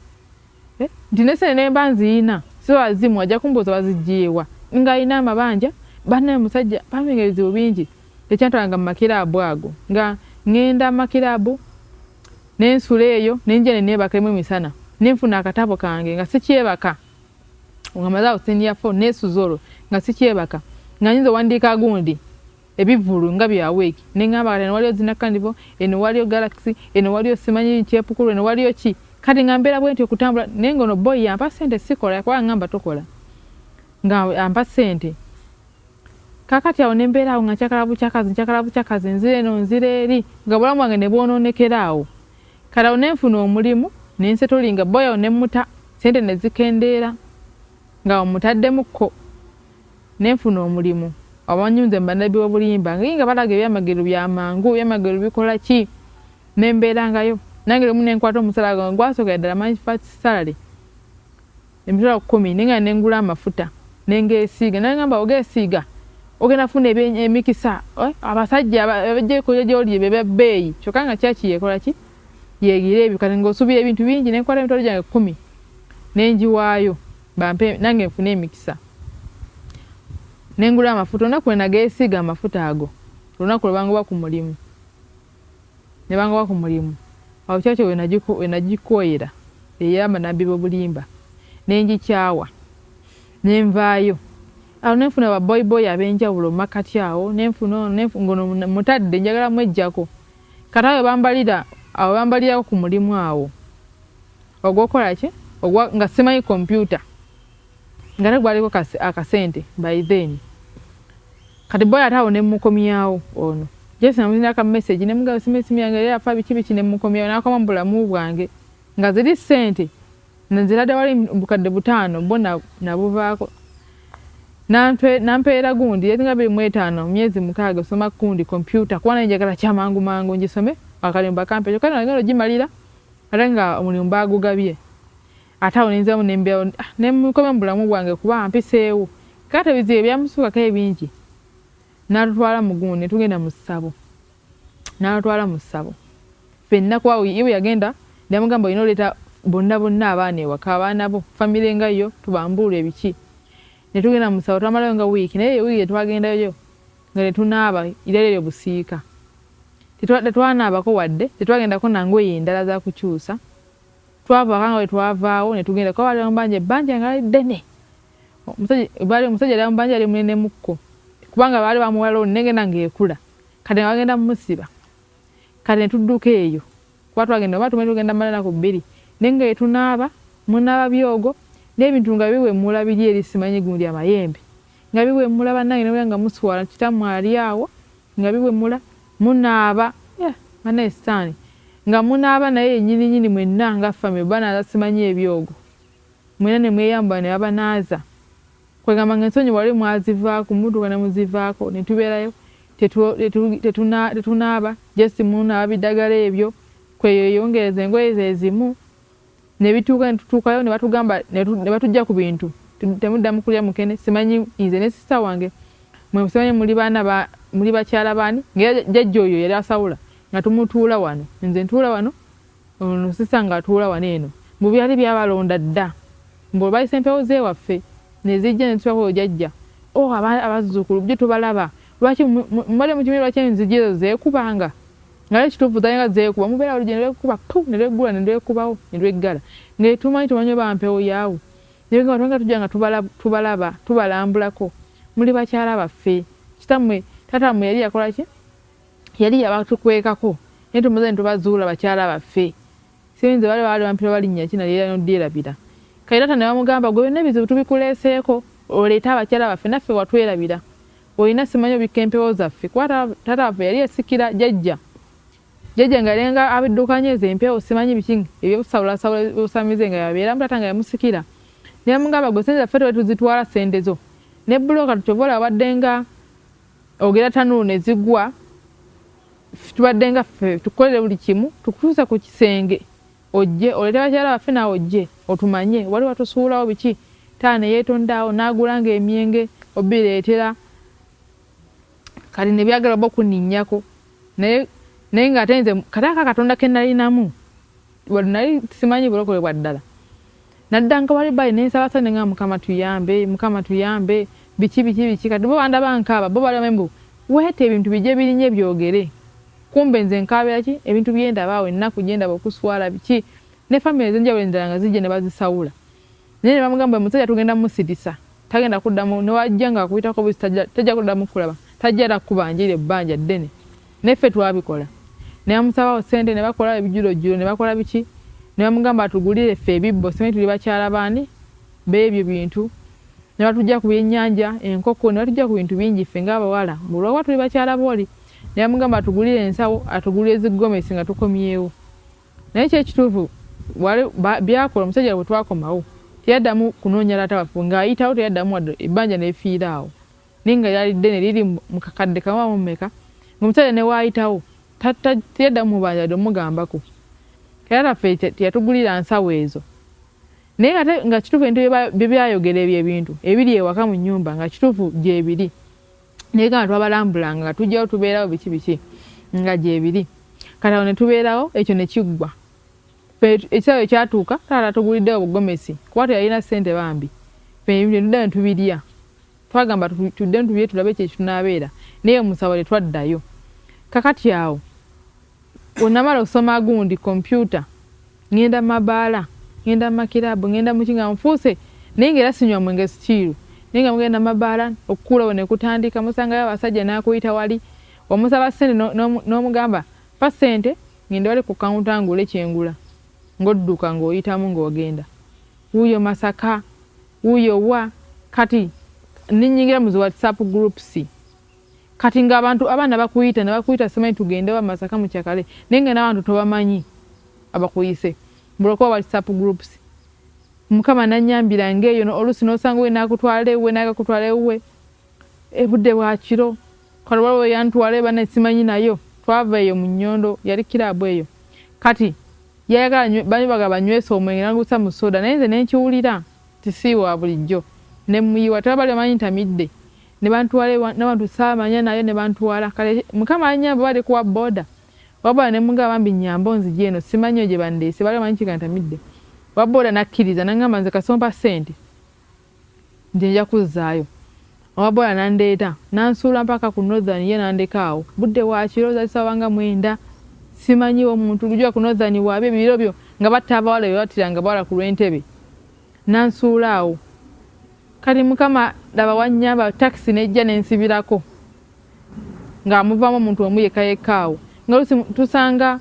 Eh, nti nesene nemba nziyina siba azimu ajja kumbuuza wazijiyewa nga ayina amabanja banaye musajja paming ebizibu bingi tekyantwalanga mumakiraabu ago nga ngenda mumakiraabu nensula eyo nenja nenebaka emu emisana nenfuna akatabo kange nga sikyebaka nga maze awo senior four nesuza olwo nga sikyebaka nga nyinza owandiika gundi ebivulu nga bya week nengamba kati eno waliyo zinakanivo eno waliyo galaxy eno waliyo simanyi kyepukulu eno waliyo ki kati nga mbeera bwenti okutambula naye nga ono boy yampa sente sikola yakuba ngamba tokola nga ampa sente kakati awo nembeera awo nga nkyakala bukyakazi nkyakala bukyakazi nzira eno nzira eri nga bulamu bwange nebwononekera awo kati awo nenfuna omulimu nensetolinga boy awo nemuta sente nezikendeera nga omutaddemukko ne nfuna omulimu abanyunze mu bannabbi b'obulimba ngi nga balaga ebyamagero bya mangu, ebyamagero bikola ki ne mbeerangayo nange lumu ne nkwata omusaala gwange gwasookera ddala my first salary emitwalo kkumi naye nga ne ngula amafuta ne ngeesiiga naye ngamba ogeesiiga ogenda funa emikisa eh, abasajja abajja ekolya gy'oli be bebbeeyi kyokka nga kyaki yeekola ki yeegira ebyo kati ng'osuubira ebintu bingi ne nkwata emitwalo gyange kkumi ne ngiwaayo bampe nange nfune emikisa nengula amafuta olunaku lwenagesiiga amafuta ago olunaku lwebangoba ku mulimu nebangoba ku mulimu awo kyakyo wenagikoyera eyamba nabbi bobulimba nenjikyawa nenvaayo awo nenfuna baboyboy abenjawulo mumakati awo nenfuna ono ngono mutadde njagala mwejjako kati awo webambalira awo webambalirako ku mulimu awo ogwokukola ki ogwa nga simanyi kompyuta nga ne gwaliko akasente by then kati boy ate awo ne mukomyawo ono jesi namuzina ka message ne mugaba simu esimu yange yali afa biki biki ne mukomyawo nakoma mu bulamu bwange nga ziri sente nzirade wali bukadde butaano bo nabuvaako nampeera gundi yali nga biri mu etaano myezi mukaaga osoma kundi kompyuta kuba naye njagala kyamangu mangu ngisome akalimba kampe kyokka nagenda ogimalira Ate nga omulimu baagugabye. Ate awo ne nziramu ne mbeerawo ne mukomya mu bulamu bwange kuba ampiseewo. Kaakati ebizibu ebyamusuukako ebingi n'atutwala mu gumu ne tugenda mu ssabo. N'atutwala mu ssabo ffenna kuba ye bwe yagenda namugamba olina oleeta bonna bonna abaana ewaka abaana bo famire nga yo tubambuulwe ebiki. Ne tugenda mu ssabo twamalayo nga wiiki naye eyo wiiki gye twagendayo nga tetunaaba irari eryo busiika. Tetwanaabako wadde, tetwagendako na ngoye ndala za kukyusa. Twava waka nga bwe twavaawo ne tugenda kuba baali bamubanja ebbanja nga lali ddene. Baali omusajja yali amubanja yali munenemukko kubanga baali bamuwa looni negenda ng'ekula kati nga bagenda mumusiba. Kati ne tudduka eyo kuba twagenda oba tumanyi tugenda mala ennaku bbiri naye nga etunaaba munaaba byogo n'ebintu nga biwemula biri eri simanyi gundi amayembe nga biwemula bannange ne nga muswala kitammwe ali awo Nga biwemula, munaaba, eh, banaye sitaani, nga munaaba naye yennyini nyini mwenna nga famire bwe banaaza simanyi ebyogo mwenna ne mweyambula ne babanaaza kwegamba nga ensonyi wali mwazivaako mutuuka ne muzivaako ne tubeerayo tetunaaba just munaaba bidagala ebyo kweyeyongereza engoye ze zimu ne bituuka ne tutuukayo ne batugamba ne batujja ku bintu temuddamu kulya mukene simanyi nze ne sisita wange mwe simanyi muli baana ba muli bakyala baani ngera jajja oyo yali asawula nga tumutuula wano nze ntuula wano ono sisita ng'atuula wano eno mbu byali byabalonda dda mbu olwayisa empewo zeewaffe ne zijja ne tutuula kuyo jajja o oh, abazzukulu bjo tubalaba lwaki mubadde mukimiri lwaki enzigi ezo zeekubanga nga naye kituufu talinga zeekuba mubeera olugye ne lwekuba pu ne lweggula ne lwekubawo ne lweggala nga etumanyi tumanyi oba mpewo yaawo nebigamba tubanga tujja nga tubalaba tubalambulako muli bakyala baffe kitammwe taata mmwe yali yakola ki yali yabatukwekako naye tumaze ne tubazuula bakyala baffe Sirinze bwali baali bampita oba linnya ki nalyerabira n'odyerabira. Kairata ne bamugamba, Ggwe byonna ebizibu tubikuleeseeko oleete abakyala baffe naffe watwerabira. Olina simanyi obikka empewo zaffe kuba taata waffe yali yasikira jjajja. Jjajja nga yali nga abiddukanya ezo empewo simanyi biki eby'okusawulasawula busamize nga yabeeramu taata nga yamusikira. Ne bamugamba, Ggwe ssente zaffe tewali tuzitwala ssente zo. Ne bbulooka kyova olaba waddenga ogera tanulu ne zigwa. tubadde nga ffe tukukolere buli kimu tukutuuse ku kisenge ojje olete bakyala baffe naawe ojje otumanye wali watusuulawo biki taa neyeetondaawo n'agula nga emyenge obireetera kati nebyagala oba okuninnyako naye naye ng'ate nze kataaka katonda ke nalinamu nali simanyi bulokole bwa ddala Naddanga wali bali nensaba saba nengamba mukama tuyambe mukama tuyambe biki biki biki kati bo bandaba nkaaba bo bali bamanyi mbu wait ebintu bije bilinye byogere kumbe nze nkaabira ki ebintu byendaba awo ennaku gyendaba okuswala biki ne family ezenjawulo endala nga zijja nebazisaula naye nebamugamba oyo musajja tugenda musiritsa Tagenda kuddamu newajja nga akuyitako buzi tajja kuddamu kulaba tajja era kubanjira ebbanja ddene naye ffe twabikola naye amusabawo sente ne bakola ebijulojjulo ne bakola biki ne bamugamba atugulire ffe ebibbo simanyi tuli bakyala baani beebyo bintu ne batujja ku byennyanja enkoko ne batujja ku bintu bingi ffe ng'abawala olwokuba tuli bakyala booli ne bamugamba atugulire ensawo atugulire zi gomesi nga tukomyewo naye kyekituufu byakola omusajja bwe twakomawo teyaddamu kunoonya taata waffe ng'ayitawo teyaddamu wadde ebbanja nefiira awo naye nga lyali ddene liri mu kakadde kamu amu mumeka ng'omusajja ne waayitawo teyaddamu mubanja wadde omugambako era taffe teyatugulira nsawo ezo naye ate nga kituufu ebintu bye byayogera ebyo ebintu ebiri ewaka mu nnyumba nga kituufu gyebiri naye gamba twabalambulanga nga tujjawo tubeerawo biki biki nga gyebiri kati awo netubeerawo ekyo nekiggwa ekisaawe ekyatuuka taata tuguliddewo bugomesi kuba teyalina sente bambi fenetudda netubirya twagamba tudde netubirye tulabe ekyo ekitunabeera naye omusawo tetwaddayo kakati awo Bwennamala okusoma gundi kompyuta, ngenda mu mabaala, ngenda mu makiraabu, ngenda muki nga nfuuse naye nga era sinywa mwenge sikiiru naye nga mugenda mu mabaala okukuula we ne kutandika musangayo abasajja n'akuyita wali omusaba ssente n'omugamba mpa ssente ngende wali ku kawunta ngule kye ngula ng'odduka ng'oyitamu ng'ogenda wuuyo Masaka wuuyo wa kati ninnyingira mu zi WhatsApp groups. Kati nga abantu abaana bakuyita nabakuyita simanyi tugendewa masaka mukyakale naye nga nabantu tobamanyi abakuyise mbulakuba whatsapp groups mukama nanyambira ngeyo no olusi nosanga we nakutwala ewe naga kutwala ewe ebudde bwakiro kale waliwo yantwala ebana simanyi nayo twava eyo mu nyondo yali kirabu eyo kati yayagala bani baga banywesa omwenge nagusa mu soda naye nze nenkiwulira tisiiwa bulijjo nemuyiwa tebabali bamanyi ntamidde nebantwala ewa nabantu saamanya naye nebantwala kale mukama anyambe oba ali kuwa boda waboda nemugamba bambi nyamba onzije eno simanyiyo gyebandeese baali bamanyi kikantamidde waboda nakkiriza nangamba nze kasita ompa sente nze nja kuzzaayo owaboda nandeeta nansuula mpaka ku northern ye nandeka awo budde wakiro zalisabanga mwenda simanyiwo omuntu lujua ku northern waabyo ebiro byo nga batta abawala bebattira nga bawala ku lwentebe nansuula awo Kati mukama laba wanyamba taxi nejja nensibirako nga amuvamu omuntu omu yekka yekka awo nga lusi tusanga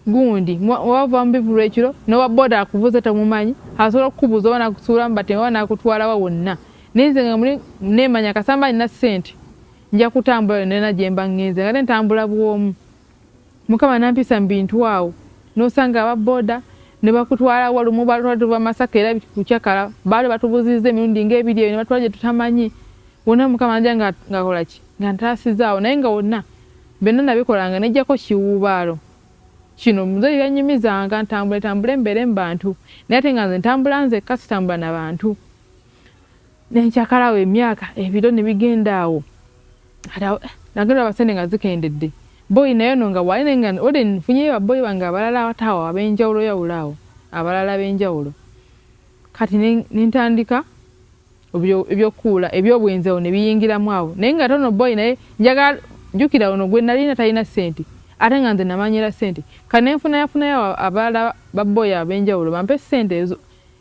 gundi wava mubivulu ekiro nowa boda akuvuze tamumanyi asobola okukubuza oba nakusuula mubate oba nakutwalawa wonna naye nze nga muli nemanya kasamba nina sente nja kutambula yonna nena gyemba ngenze nga tentambula bwomu Mukama nampisa mu bintu awo nosanga aba boda ne bakutwala walumu balwa tuva masaka era kuchakala bali batubuzizza emirundi nga ebiri ebyo batwala tutamanyi wona mukama nja nga ngakola ki nga ntasizaawo naye nga wonna byonna nabikolanga nejjako kiwuubaalo kino muzeeyi yanyumizanga ntambule tambule mbeere mu bantu naye ate nga nze ntambula nzekka sitambula na bantu. Nenkyakala awo emyaka ebiro ne bigenda awo nagenda olaba sente nga zikendedde boyi naye ono nga waali naye nga olde nfunyeyo baboyi bange abalala awataawo abenjawulo yawulo awo abalala abenjawulo kati nentandika ebyokukuula ebyobwenzi awo ne biyingiramu awo naye nga ate ono boyi naye njagala jjukira ono gwe nalina talina sente ate nga nze namanyira sente kati nenfunayafunayo abalala baboyi abenjawulo bampe sente ezo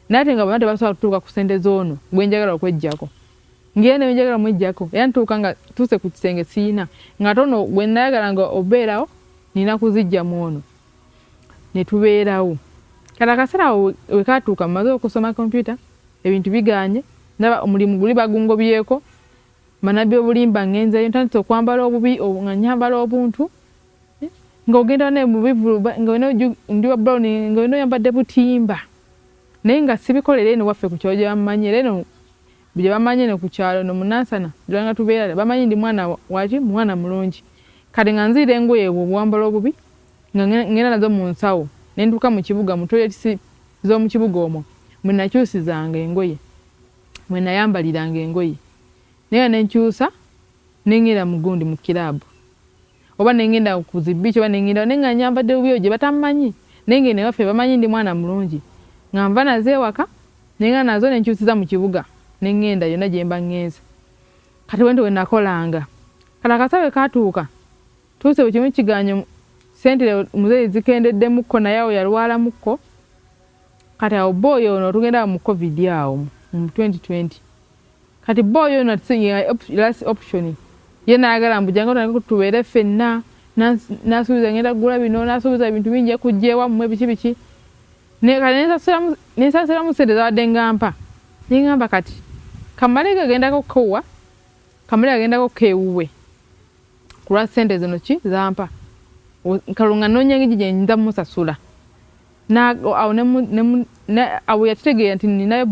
naye ate nga bonna tebasobola kutuuka ku sente z'ono gwe njagala okweggyako ng'era ne njagala omweggyako era ntuuka nga tuuse ku kisenge siyina ng'ate ono gwe nayagala nga obeerawo nina kuziggya mu ono ne tubeerawo kati akaseera awo we kaatuuka mmaze okusoma kompyuta ebintu bigaanye ndaba omulimu guli bagungobyeko manabi obulimba ngenzeyo ntandise okwambala obubi nga nyambala obuntu nga ogenda naye mu bivulu nga olina ndi wa brown nga olina oyambadde butimba naye nga sibikola era eno waffe ku kyalo gye bamanyi era eno gye bamanyi eno ku kyalo no munansana tulanga tubeera bamanyi ndi mwana waki mwana mulungi kati nga nziira engoye ebwo obuwambala obubi nga ngenda nazo mu nsawo ne ntuuka mu kibuga mu toyetisi z'omu kibuga omwo mwe nakyusizanga engoye mwe nayambaliranga engoye naye nenkyusa nengera mu gundi mu kiraabu oba nengenda ku zi beach oba nengenda naye nga nyambadde bubi eyo gye batammanyi naye ng'eno ewaffe bamanyi ndi mwana mulungi nga nva nazo ewaka naye nga nazo ne nkyusiza mu kibuga ne ŋŋenda yonna gye mba ŋŋenze kati bwentyo bwe nakolanga kati akasa bwe kaatuuka tuuse bwe kimu kiganyo sente muzeeyi zikendeddemukko naye awo yalwalamukko kati awo bba oyo ono otugenda awo mu covid awo mu 2020 Kati boy ono atusinga last option ye nayagala mbu jangu tange tubeere ffenna nasuubiza ngenda kugula bino nasuubiza ebintu bingi ekujja ewammwe biki biki nensasiramu sente zabadde ngampa nengamba kati kamale gagendako kowa kamale gagendako kewuwe kulwa sente zino ki zampa kalunga nonya ngiji gyenyinza musasula awo awo yakitegeera nti nina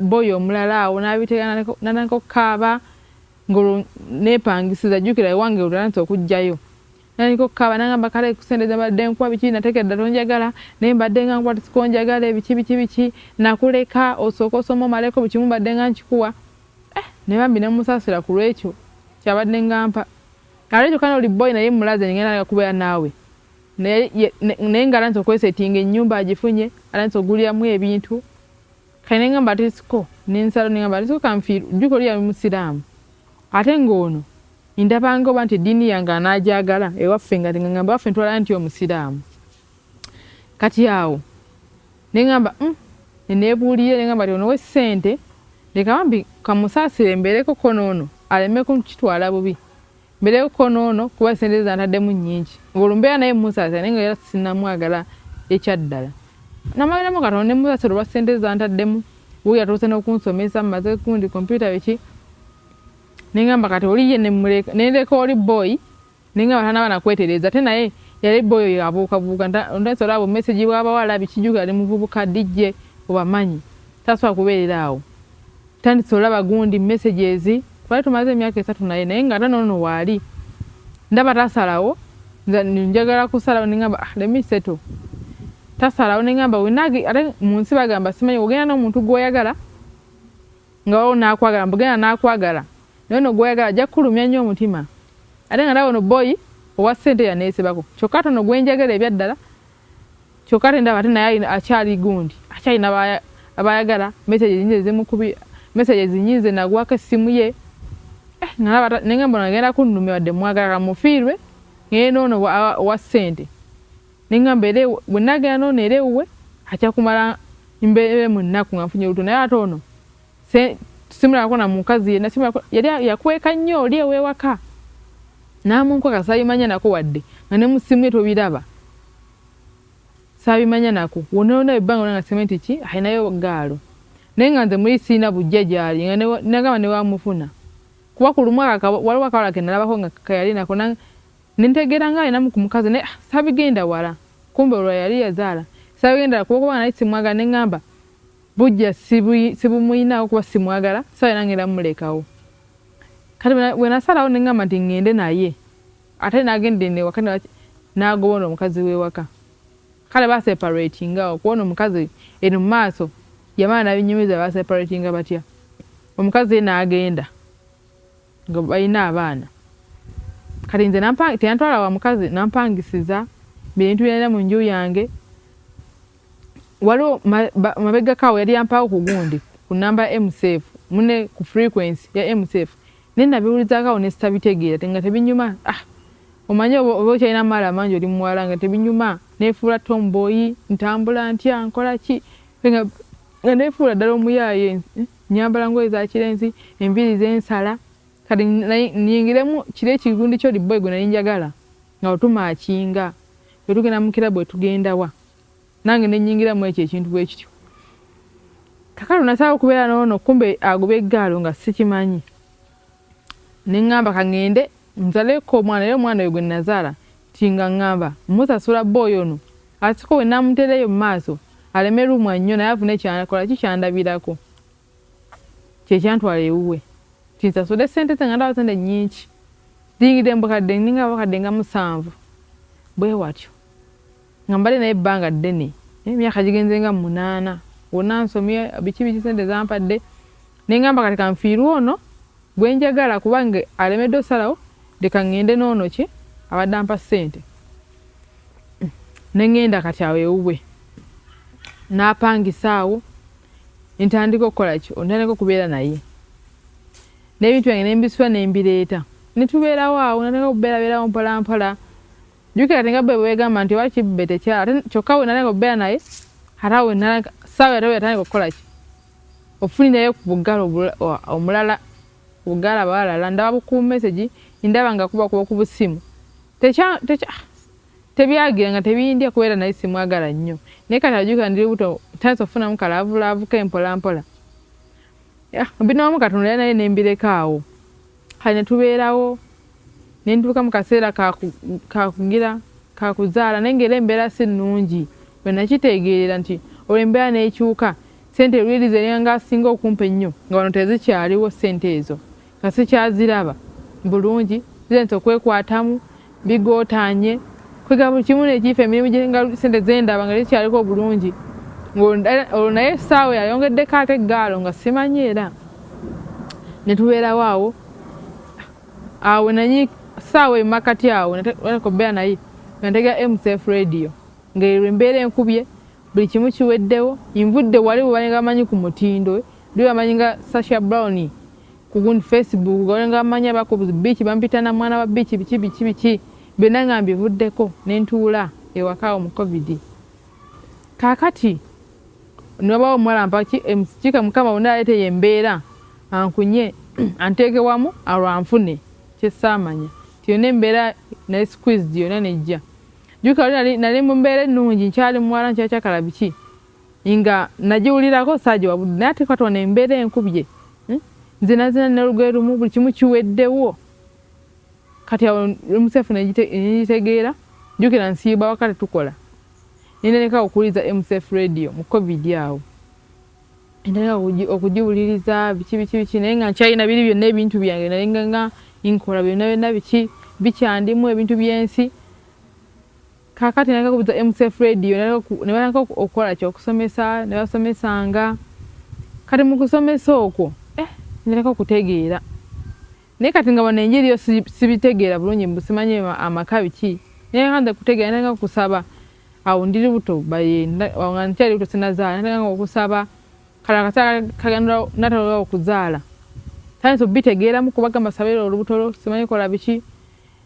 boyi omulala awo nabitegeera natandika okukaaba ngolwo nepangisiza jukira ewange olulantsa okujjayo nandika okukaaba nangamba kale kusente zabadde nkuwa biki nateeka eddala onjagala naye mbadde nga nkuwa tisika onjagala ebiki biki biki nakuleka osooka osoma omaleko buli kimu mbadde nga nkikuwa eh, ne bambi nemusaasira ku lwekyo kyabadde ngampa ate kyokka noli boyi naye mulaze ngenda kubeera naawe naye nga alanze okwesetinga enyumba agifunye alanze oguliramu ebintu kale nengamba ati siko nensalo nengamba ati siko kanfiiru jjuka oli yali musiraamu ate ng'ono ndabanga oba nti eddiini yange anaajagala ewaffe nga ngamba waffe ntwala nti omusiraamu kati awo nengamba mm, neneebuulire nengamba ti ono wessente leka bambi kamusaasire mbeereko konoono aleme kukitwala bubi Mbere uko nono kuba sente zantadde mu nyingi. Ngolo mbera naye musaza naye ngera sinamwagala ekyaddala. Namagala mu katonda ne musaza olwa sente zantadde mu wuyo atuse no kunsomesa maze kundi computer biki. Ninga mbakati oli ye ne muleka ne leka oli boy ninga batana bana kwetereza te naye yali boyo yabuuka buuka ndayinza olaba message bw'abawala bikijuka yali muvubuka DJ obamanyi taswa kubeerera awo Tandise olaba gundi messages twali tumaze emyaka esatu naye naye nga ate nono waali ndaba tasalawo njagala kusalawo nengamba ah, let me settle tasalawo nengamba wenagi ate mu nsi bagamba simanyi ogenda n'omuntu gw'oyagala nga waliwo n'akwagala mbugenda n'akwagala naye no gw'oyagala ajja kukulumya nnyo omutima ate nga nawe no boyi owa ssente yaneesibako kyokka tono gwe njagala ebyaddala kyoka tendaba ate naye akyali gundi akyali nabaya abayagala message nyinze zimukubi message zinyinze nagwako essimu ye eh nalaba nenga mbona agenda kunnumya wadde mwagala mufiirwe ngende ono wa ssente nenga mbere bwe nagenda nono era ewuwe aja kumala mbeere mu nnaku nga nfunye oluto naye ate ono se simula kona mukazi yena simula yali yakweka nnyo oli ewewaka namunko kasayimanya nako wadde nga ne musimu eto biraba sabimanya nako wona wona ebanga nga sementi ki ayinayo gaalo naye nga nze muli siina bujja gyali nga nagamba ne bamufuna kuba ku lumu waliwo akawala ke nalabako nga kayali nako ne ntegeera nga alinamu ku mukazi naye ah, sabigenda wala kumbe olwa yali yazaala sabigenda wala kuba kuba nali simwaga ne ŋŋamba Bujja sibumuyinawo kuba simwagala sala era ngenda mulekawo kati bwenasalawo nengamba nti ngende naye ate nagendenewaka nagobona omukazi wewaka kale baseparatingawo kuona omukazi eno mumaaso yamala nabinyumiza baseparatinga batya omukazi ye nagenda nga balina abaana kati nze teyantwala wa mukazi nampangisiza bintu byalina mu nju yange waliwo mabegakawo yali yampawo ku gundi ku namba ya msf mune ku frequency ya msf naye nabiwulizakawo ne sitabitegeera te nga tebinyuma ah omanyi oba okyalina amaala amangi oli muwala nga tebinyuma nefuula tomboyi ntambula ntya nkola ki nga nefuula ddala omuyaaye eh, nyambala ngoye za kirenzi enviiri zensala kati niyingiremu kiri ekigundi kyoli boy gwe nali njagala Nga bwe tumaakinga, bwe tugenda mu kirabu, bwe tugenda wa, nange ne nnyingira mu ekyo ekintu bwe kityo. Kakati nasalawo okubeera n'ono, kumbe agoba eggaalo nga sikimanyi. Ne ŋŋamba ka ŋŋende nzaleko omwana, era omwana oyo gwe nnazaala nti nga ŋŋamba mmusasula bba oyo ono asiko bwe nnaamuteera eyo mu maaso aleme lumwa nnyo naye afune ky'akola, kikyandabirako. kyekyantwala ewuwe kinsasule sente ze nga ndaba sente nyingi ziyingidde mubukadde ninga abakadde nga musanvu bwewatyo nga mbadde naye ebbanga ddene naye emyaka gigenze nga munaana wonna nsomye biki biki sente zampadde nengamba kati kanfiirwe ono gwenjagala kubanga alemedde osalawo leka ŋŋende n'ono ki abadde ampa ssente ne ŋŋenda kati awo ewuwe n'apangisa awo ntandika okukola ki ntandika okubeera naye n'ebintu byange nembisula nembireeta netubeerawo awo natandika okubeerabeerawo mpolampola jukira tinga bwe bwegamba nti oba kibbe tekyala ate kyokka we natandika okubeera naye ate awo saawa yatawe yatandika okukola ki ofunirayo ku bugala omulala bugala balala ndaba bukuumesegi ndaba nga kuba kuba ku busimu tekya tekya Tebyagira nga tebindya kuba era nali simwagala nnyo naye kati ajjukira ndi lubuto ntandise okufunamu ka laavulaavu ke mpolampola. Binawamu Katonda yali naye ne mbireka awo kati ne tubeerawo ne ntuuka mu kaseera ka kugira ka kuzaala naye ng'era embeera si nnungi we nakiteegeerera nti olwo embeera n'ekyuka ssente luli zeringa asinga okumpa ennyo nga wano tezikyaliwo ssente ezo. nga sikyaziraba bulungi zente okwekwatamu bigotanye kwega buli kimu nekiifa emirimu gyenga sente zendaba nga tekyaliko obulungi olwo naye esaawa yayongeddeko ate egaalo nga simanyi era netubeerawo awo awo nanyi saawa emakati awo nakobeera naye nga ntega mcf radio ngaerwo embeera enkubye buli kimu kiweddewo nvudde wali webalinga bamanyi ku mutindo Ndi bamanyi nga Sasha Brown kugun Facebook gole nga bamanyi abako biiki bampita na mwana wa biiki biki biki biki byonna nga mbivuddeko ne ntuula ewaka awo mu covid kaakati nobawo omuwala mpaki emusikika eh, mukama wonna aleeteyo embeera ankunye anteeke wamu alwanfune kyesaamanya nti yonna embeera naye squeezed yonna nejja jukali nali mu mbeera ennungi nkyali muwala nkyakyakala biki nga nagiwulirako saagiwa budde naye ate katona embeera enkubye hmm? nzinazina nolugoye lumu buli kimu kiweddewo kati awo mcf negitegeera jukira nsiiba waka tetukola nendaneka okuwuliriza mcf radio mu covid awo endaneka okugiwuliriza biki biki biki naye nga nkyalina biri byonna ebintu byange nayenga nga nkola byonna byonna biki bikyandimu ebintu byensi Kakati naleka kubuza MCF radio nebalaka okukola kyokusomesa nebasomesanga kati mukusomesa okwo eh, naleka okutegeera naye kati nga bano enjiri yo sibitegeera bulungi mbusimanyi amaka biki naye kanze kutegeera naleka okusaba awo ndiri buto baye nga nkyali buto sinazaala naleka okusaba kala kasala kagenda natalola okuzaala tandise obitegeeramu kubagamba sabira olubuto lwo simanyi kola biki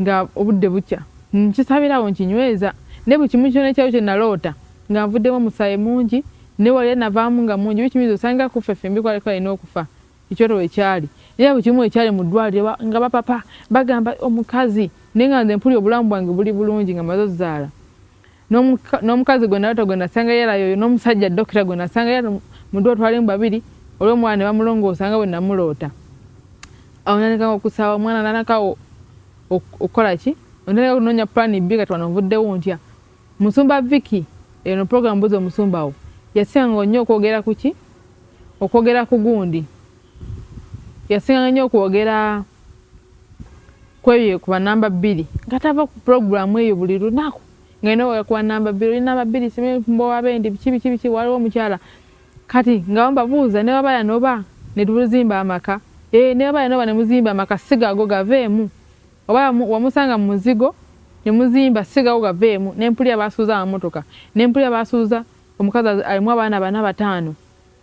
nga obudde bukya nkisabirawo nkinyweza naye buli kimu kyona ekyalo kye naloota nga nvuddemu omusaayi mungi naye wali anavaamu nga mungi bikimiza osanga kuffe ffembi kwaliko alina okufa ekyoto we kyali naye buli kimu ekyali mu ddwaliro nga bapapa bagamba omukazi naye nga nze mpulira obulamu bwange buli bulungi nga maze ozaala n'omukazi gwe nalota gwe nasanga yalayo oyo n'omusajja dokita gwe nasanga yala mudu otwalimu babiri olw'omwana ne bamulongoosa nga bwe namuloota awo nanekawo okusaba omwana nanakawo okukola ki onateka okunoonya pulaani bbi kati wano nvuddewo ntya musumba viki eno puroguramu buza omusumbawo yasanga nnyo okwogera ku ki okwogera ku gundi yasinganga nnyo okwogera kwebyo kuba namba bbiri nga tava ku puroguramu eyo buli lunaku ngenda oga kuba namba bbiri oli namba bbiri simbowabende biki biki biki waliwo omukyala kati nga mbabuuza ne wabaya noba ne tuzimba amaka ee ne wabaya noba ne muzimba amaka sigago gaveemu oba wamusanga mu muzigo ne muzimba sigago gaveemu ne mpulira basuuza amamotoka ne mpulira basuuza omukazi alimu abaana bana bataano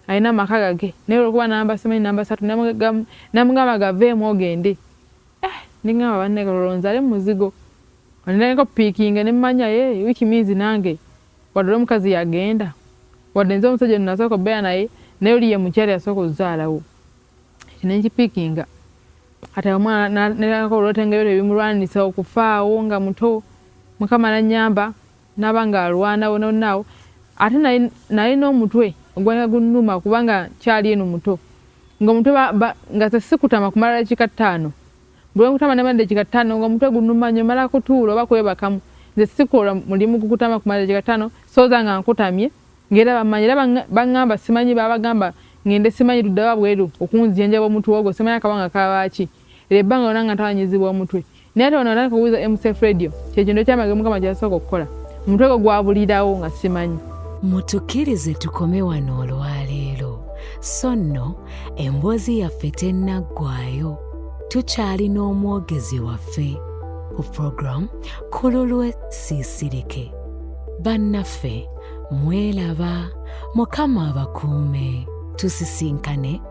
Alina amaka gage naye olwokuba namba simanyi namba satu namugamba gaveemu ogende eh, ningamba banne kalolo nzale muzigo oneneko pikinge nemanya ye eh, wiki minzi nange wadde oli omukazi yagenda wadde nze omusajja ono nasooka obeera naye naye oli ye mukyala yasooka ozaalawo ekyo nenkipikinga kati omwana nalako olwotengeyo tebimulwanisa okufaawo nga muto mukama nanyamba Naba nga alwana wona wona awo ate nalina omutwe ogwalina gunuma kubanga kyali eno muto nga omutwe nga sesikutama kumala dakika ttaano bwenkutama nemala dakika ttaano nga omutwe gunuma nyo mala kutuula oba kwebakamu nze sikola mulimu gukutama kumala dakika ttaano soza nga nkutamye ngaera bamanyi era bangamba simanyi babagamba ngende simanyi luddawa bweru okunzijanjaba omutwe ogwo simanyi akabanga kabaaki Lye ebbanga lyona nga ntawanyizibwa omutwe. Nate wano natandika okubuuza MCF Radio. Kyekintu ekyamagero Mukama kyeyasooka okukola. Omutwe gwo gwabulirawo nga simanyi. Mutukirize tukome wano olwaleero. So nno emboozi yaffe tennaggwayo. Tukyali n'omwogezi waffe ku program Kululwe Siisirike. Bannaffe mwelaba. Mukama abakuume. Tusisinkane.